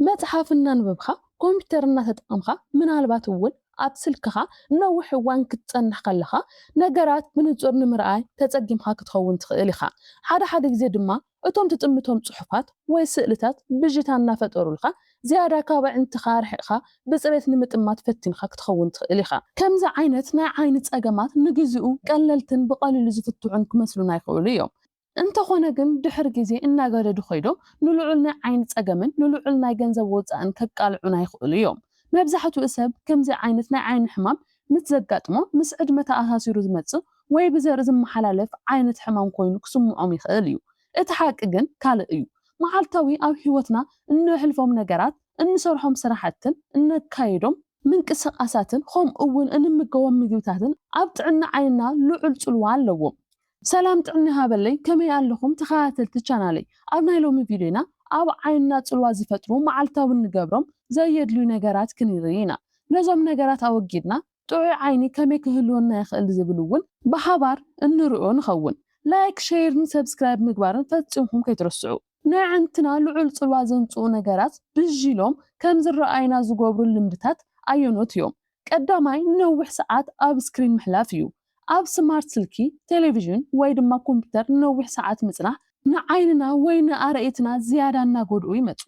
መጽሓፍ እናንበብካ፣ ኮምፒተር እናተጠቐምካ፣ ምናልባት እውን ኣብ ስልክኻ ንነዊሕ እዋን ክትጸንሕ ከለኻ፣ ነገራት ብንጹር ንምርኣይ ተጸጊምካ ክትኸውን ትኽእል ኢኻ። ሓደ ሓደ ግዜ ድማ እቶም ትጥምቶም ጽሑፋት ወይ ስእልታት ብዥታ እናፈጠሩልካ፣ ዝያዳ ካብ ኣዒንትኻ ኣርሒቕካ ብጽሬት ንምጥማት ፈቲንካ ክትኸውን ትኽእል ኢኻ። ከምዚ ዓይነት ናይ ዓይኒ ጸገማት ንግዜኡ ቀለልትን ብቐሊሉ ዝፍትሑን ክመስሉና ይኽእሉ እዮም። እንተኾነ ግን ድሕሪ ግዜ እናገደዱ ከይዶም ንልዑል ናይ ዓይኒ ጸገምን ንልዑል ናይ ገንዘብ ወጻእን ከቃልዑና ይኽእሉ እዮም። መብዛሕትኡ ሰብ ከምዚ ዓይነት ናይ ዓይኒ ሕማም ምስ ዘጋጥሞ ምስ ዕድመ ተኣሳሲሩ ዝመጽእ ወይ ብዘርኢ ዝመሓላለፍ ዓይነት ሕማም ኮይኑ ክስምዖም ይኽእል እዩ። እቲ ሓቂ ግን ካልእ እዩ። መዓልታዊ ኣብ ህይወትና እነሕልፎም ነገራት፣ እንሰርሖም ስራሕትን እነካይዶም ምንቅስቓሳትን ከምኡ'ውን እንምገቦም ምግብታትን ኣብ ጥዕና ዓይንና ልዑል ጽልዋ ኣለዎም። ሰላም ጥዕና ይሃበለይ ከመይ ኣለኹም ተኸታተልቲ ቻናለይ ኣብ ናይ ሎሚ ቪድዮና ኣብ ዓይንና ጽልዋ ዝፈጥሩ መዓልታዊ እንገብሮም ዘየድልዩ ነገራት ክንርኢ ኢና ነዞም ነገራት ኣወጊድና ጥዑይ ዓይኒ ከመይ ክህልወና ይኽእል ዝብል ውን ብሓባር እንርእዮ ንኸውን ላይክ ሸይርን ሰብስክራይብ ምግባርን ፈጺምኩም ከይትርስዑ። ነዕንትና ልዑል ጽልዋ ዘምጽኡ ነገራት ብዥ ኢሎም ከም ዝረኣዩና ዝገብሩ ልምድታት ኣየኖት እዮም ቀዳማይ ንነዊሕ ሰዓት ኣብ ስክሪን ምሕላፍ እዩ። ኣብ ስማርት ስልኪ፣ ቴሌቪዥን ወይ ድማ ኮምፒተር ንነዊሕ ሰዓት ምጽናሕ ንዓይንና ወይ ንኣረእትና ዝያዳ እናጎድኡ ይመጹ።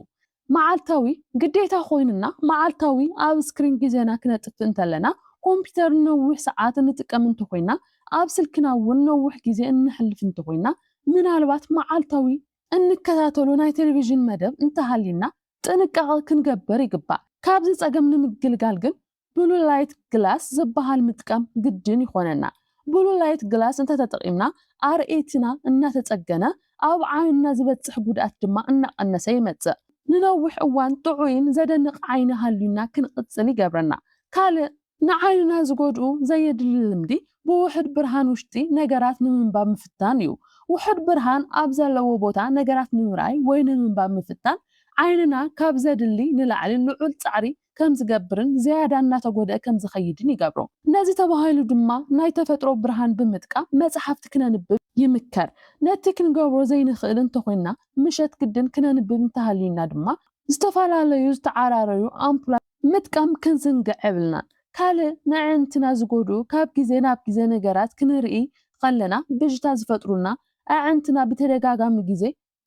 መዓልታዊ ግዴታ ኮይኑና መዓልታዊ ኣብ ስክሪን ግዜና ክነጥፍእ እንተለና፣ ኮምፒተር ንነዊሕ ሰዓት እንጥቀም እንተኾይና፣ ኣብ ስልክና እውን ነዊሕ ግዜ እነሕልፍ እንተኾይና፣ ምናልባት መዓልታዊ እንከታተሎ ናይ ቴሌቪዥን መደብ እንተሃልዩና፣ ጥንቃቐ ክንገብር ይግባእ። ካብዚ ፀገም ንምግልጋል ግን ብሉ ላይት ግላስ ዝበሃል ምጥቃም ግድን ይኾነና። ብሉ ላይት ግላስ እንተተጠቒምና ኣርእየቲና እናተፀገነ ኣብ ዓይንና ዝበፅሕ ጉድኣት ድማ እናቐነሰ ይመፅእ። ንነዊሕ እዋን ጥዑይን ዘደንቕ ዓይኒ ሃልዩና ክንቕፅል ይገብረና። ካልእ ንዓይንና ዝጎድኡ ዘየድሊ ልምዲ ብውሑድ ብርሃን ውሽጢ ነገራት ንምንባብ ምፍታን እዩ። ውሑድ ብርሃን ኣብ ዘለዎ ቦታ ነገራት ንምርኣይ ወይ ንምንባብ ምፍታን ዓይንና ካብ ዘድሊ ንላዕሊ ልዑል ጻዕሪ ከም ዝገብርን ዝያዳ እናተጎድኣ ከም ዝኸይድን ይገብሮ። ነዚ ተባሂሉ ድማ ናይ ተፈጥሮ ብርሃን ብምጥቃም መጽሓፍቲ ክነንብብ ይምከር። ነቲ ክንገብሮ ዘይንኽእል እንተኾይንና ምሸት ግድን ክነንብብ እንተሃልዩና ድማ ዝተፈላለዩ ዝተዓራረዩ ኣምፑላት፣ ምጥቃም ክንዝንግዕ የብልናን። ካልእ ንኣዕንትና ዝጎድኡ ካብ ግዜ ናብ ግዜ ነገራት ክንርኢ ኸለና ብዥታ ዝፈጥሩልና ኣዕንትና ብተደጋጋሚ ግዜ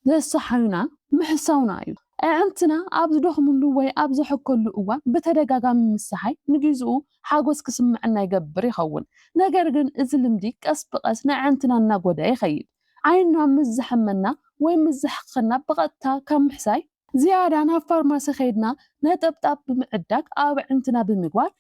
ዘሰሓዩና ምሕሳውና እዩ። ኣዕንትና ኣብ ዝደኽምሉ ወይ ኣብ ዘሕከሉ እዋን ብተደጋጋሚ ምስሓይ ንጊዝኡ ሓጎስ ክስመዐና ይገብር ይኸውን። ነገር ግን እዚ ልምዲ ቀስ ብቐስ ንኣዕንትና እናጎድኣ ይኸይድ። ዓይንና ምስ ዘሕመና ወይ ምስ ዘሕክኸና ብቐጥታ ካብ ምሕሳይ። ዝያዳ ናብ ፋርማሲ ከይድና ነጠብጣብ ብምዕዳግ ኣብ ኣዕንትና ብምግባር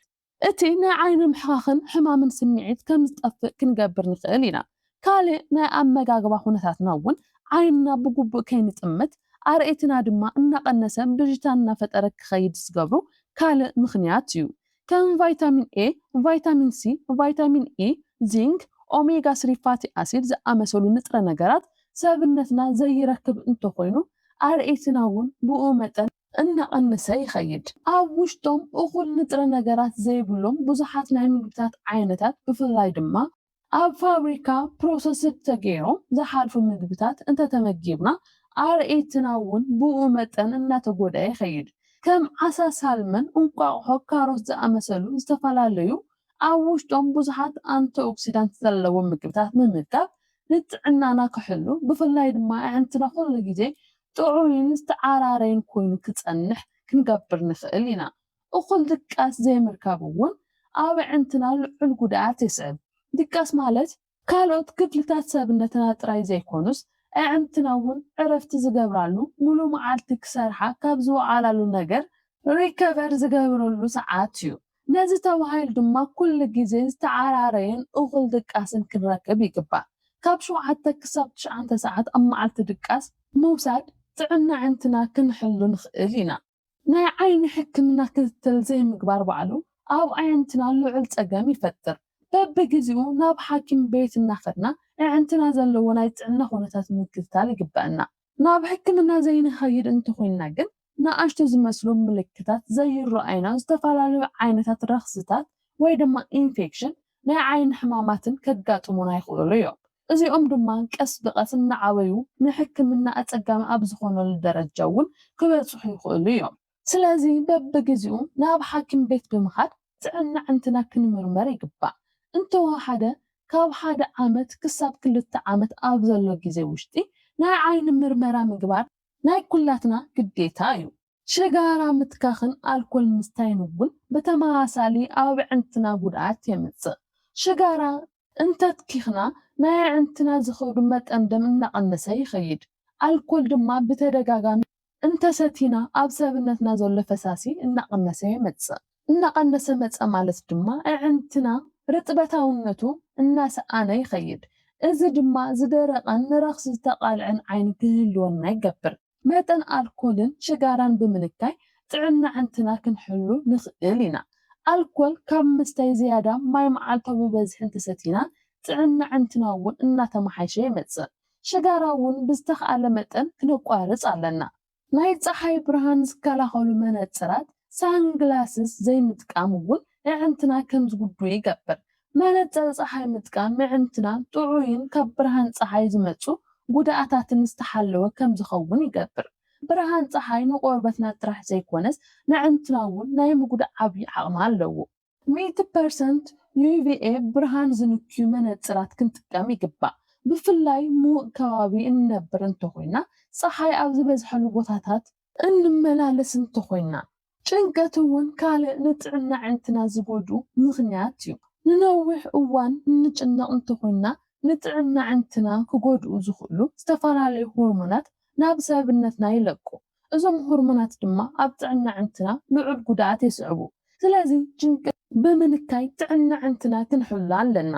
እቲ ናይ ዓይኒ ምሕኻኽን ሕማምን ስምዒት ከም ዝጠፍእ ክንገብር ንኽእል ኢና። ካልእ ናይ ኣመጋግባ ኩነታትና እውን ዓይንና ብግቡእ ከይንጥምት ኣርእየትና ድማ እናቐነሰን ብዥታን እናፈጠረ ክኸይድ ዝገብሩ ካልእ ምኽንያት እዩ። ከም ቫይታሚን ኤ፣ ቫይታሚን ሲ፣ ቫይታሚን ኢ፣ ዚንክ፣ ኦሜጋ ስሪ ፋቲ ኣሲድ ዝኣመሰሉ ንጥረ ነገራት ሰብነትና ዘይረክብ እንተኾይኑ ኣርእይትና እውን ብኡ መጠን እናቐነሰ ይኸይድ። ኣብ ውሽጦም እኹል ንጥረ ነገራት ዘይብሎም ብዙሓት ናይ ምግብታት ዓይነታት ብፍላይ ድማ። ኣብ ፋብሪካ ፕሮሰስድ ተገይሮም ዝሓልፉ ምግብታት እንተተመጊብና ኣርእይትና እውን ብኡ መጠን እናተጎድኣ ይኸይድ። ከም ዓሳ ሳልመን፣ እንቋቑሖ፣ ካሮት ዝኣመሰሉ ዝተፈላለዩ ኣብ ውሽጦም ብዙሓት ኣንቲኦክሲዳንት ዘለዎም ምግብታት ምምጋብ ንጥዕናና ክሕሉ ብፍላይ ድማ ኣዕንትና ኩሉ ግዜ ጥዑይን ዝተዓራረየን ኮይኑ ክጸንሕ ክንገብር ንኽእል ኢና። እኹል ድቃስ ዘይምርካብ እውን ኣብ ኣዕንትና ልዑል ጉድኣት የስዕብ። ድቃስ ማለት ካልኦት ክፍልታት ሰብነትና ጥራይ ዘይኮኑስ ኣዕንትና እውን ዕረፍቲ ዝገብራሉ ምሉእ መዓልቲ ክሰርሓ ካብ ዝወዓላሉ ነገር፣ ሪከቨር፣ ዝገብረሉ ሰዓት እዩ። ነዚ ተባሂሉ ድማ ኩሉ ግዜ ዝተዓራረየን እኹል ድቃስን ክንረክብ ይግባእ። ካብ ሸውዓተ ክሳብ ትሽዓተ ሰዓት ኣብ መዓልቲ ድቃስ ምውሳድ ጥዕና ኣዕንትና ክንሕሉ ንኽእል ኢና። ናይ ዓይኒ ሕክምና ክትትል ዘይምግባር ባዕሉ ኣብ ኣዕንትና ልዑል ጸገም ይፈጥር። በብግዜኡ ናብ ሓኪም ቤት እናኸድና ኣዕንትና ዘለዎ ናይ ጥዕና ኩነታት ምክትታል ይግበእና። ናብ ሕክምና ዘይንኸይድ እንተኾይንና ግን ንኣሽቱ ዝመስሉ ምልክታት ዘይረኣዩና ዝተፈላለዩ ዓይነታት ረኽስታት ወይ ድማ ኢንፌክሽን ናይ ዓይኒ ሕማማትን ከጋጥሙና ይኽእሉ እዮም። እዚኦም ድማ ቀስ ብቐስ እናዓበዩ ንሕክምና ኣጸጋሚ ኣብ ዝኾነሉ ደረጃ እውን ክበጽሑ ይኽእሉ እዮም። ስለዚ በብግዜኡ ናብ ሓኪም ቤት ብምኻድ ጥዕና ኣዕንትና ክንምርመር ይግባእ። እንተወሓደ ካብ ሓደ ዓመት ክሳብ ክልተ ዓመት ኣብ ዘሎ ግዜ ውሽጢ ናይ ዓይኒ ምርመራ ምግባር ናይ ኩላትና ግዴታ እዩ። ሽጋራ ምትካኽን ኣልኮል ምስታይን እውን ብተመሳሳሊ ኣብ ኣዕንትና ጉድኣት የምፅእ። ሽጋራ እንተትኪኽና ናይ ኣዕንትና ዝኸዱ መጠን ደም እናቐነሰ ይኸይድ። ኣልኮል ድማ ብተደጋጋሚ እንተሰቲና ኣብ ሰብነትና ዘሎ ፈሳሲ እናቐነሰ የመፅእ። እናቐነሰ መፀ ማለት ድማ ኣዕንትና ርጥበታውነቱ እናሰኣነ ይኸይድ። እዚ ድማ ዝደረቐን ንረኽሲ ዝተቓልዐን ዓይኒ ክህልወና ይገብር። መጠን ኣልኮልን ሽጋራን ብምንካይ ጥዕና ኣዕንትና ክንሕሉ ንኽእል ኢና። ኣልኮል ካብ ምስታይ ዝያዳ ማይ መዓልታዊ ብበዝሒ እንተሰቲና ጥዕና ኣዕንትና እውን እናተመሓየሸ ይመፅእ። ሽጋራ እውን ብዝተኽኣለ መጠን ክነቋርፅ ኣለና። ናይ ፀሓይ ብርሃን ዝከላኸሉ መነፅራት፣ ሳንግላስስ፣ ዘይምጥቃም እውን ኣዕንትና ከምዝጉድኡ ይገብር። መነጸር ጸሓይ ምጥቃም ምዕንትና ጥዑይን ካብ ብርሃን ጸሓይ ዝመጹ ጉድኣታትን ዝተሓለወ ከም ዝኸውን ይገብር። ብርሃን ጸሓይ ንቆርበትና ጥራሕ ዘይኮነስ ነዕንትና እውን ናይ ምጉዳእ ዓብዪ ዓቕሚ ኣለዎ። ሚእቲ ፐርሰንት UVA ብርሃን ዝንክዩ መነጽራት ክንጥቀም ይግባእ። ብፍላይ ምዉቕ ከባቢ እንነብር እንተኾይና ጸሓይ ኣብ ዝበዝሐሉ ቦታታት እንመላለስ እንተኾይና፣ ጭንቀት እውን ካልእ ንጥዕና ኣዒንትና ዝጎድኡ ምኽንያት እዩ። ንነዊሕ እዋን እንጭነቕ እንተኾይና፣ ንጥዕና ኣዒንትና ክጎድኡ ዝኽእሉ ዝተፈላለዩ ሆርሞናት ናብ ሰብነትና ይለቁ። እዞም ሆርሞናት ድማ ኣብ ጥዕና ኣዒንትና ልዑል ጉድኣት የስዕቡ። ስለዚ ጭንቀት ብምንካይ ጥዕና ኣዒንትና ክንሕሉ ኣለና።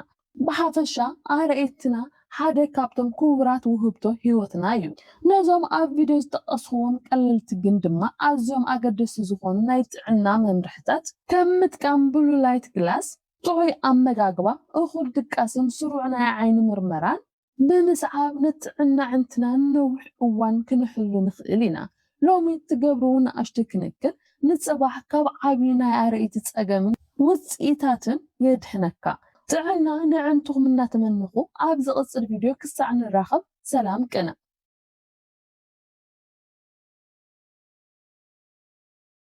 ብሓፈሻ ኣርእስትና ሓደ ካብቶም ክቡራት ውህብቶ ህይወትና እዩ። ነዞም ኣብ ቪድዮ ዝጠቀስኩዎም ቀለልቲ ግን ድማ ኣዝዮም ኣገደስቲ ዝኾኑ ናይ ጥዕና መምርሕታት፣ ከም ምጥቃም ብሉ ላይት ግላስ፣ ጥዑይ ኣመጋግባ፣ እኹል ድቃስን ስሩዕ ናይ ዓይኒ ምርመራን፣ ብምስዓብ ንጥዕና ኣዕንትና ንነዊሕ እዋን ክንሕሉ ንኽእል ኢና። ሎሚ እትገብርዎ ንኣሽቱ ክንክን፣ ንጽባሕ ካብ ዓቢ ናይ ኣረኢቲ ጸገምን ውጽኢታቱን የድሕነካ። ጥዕና ነዕንትኹም እናተመነኹ፣ ኣብ ዝቕጽል ቪድዮ ክሳዕ ንራኸብ ሰላም ቅነ።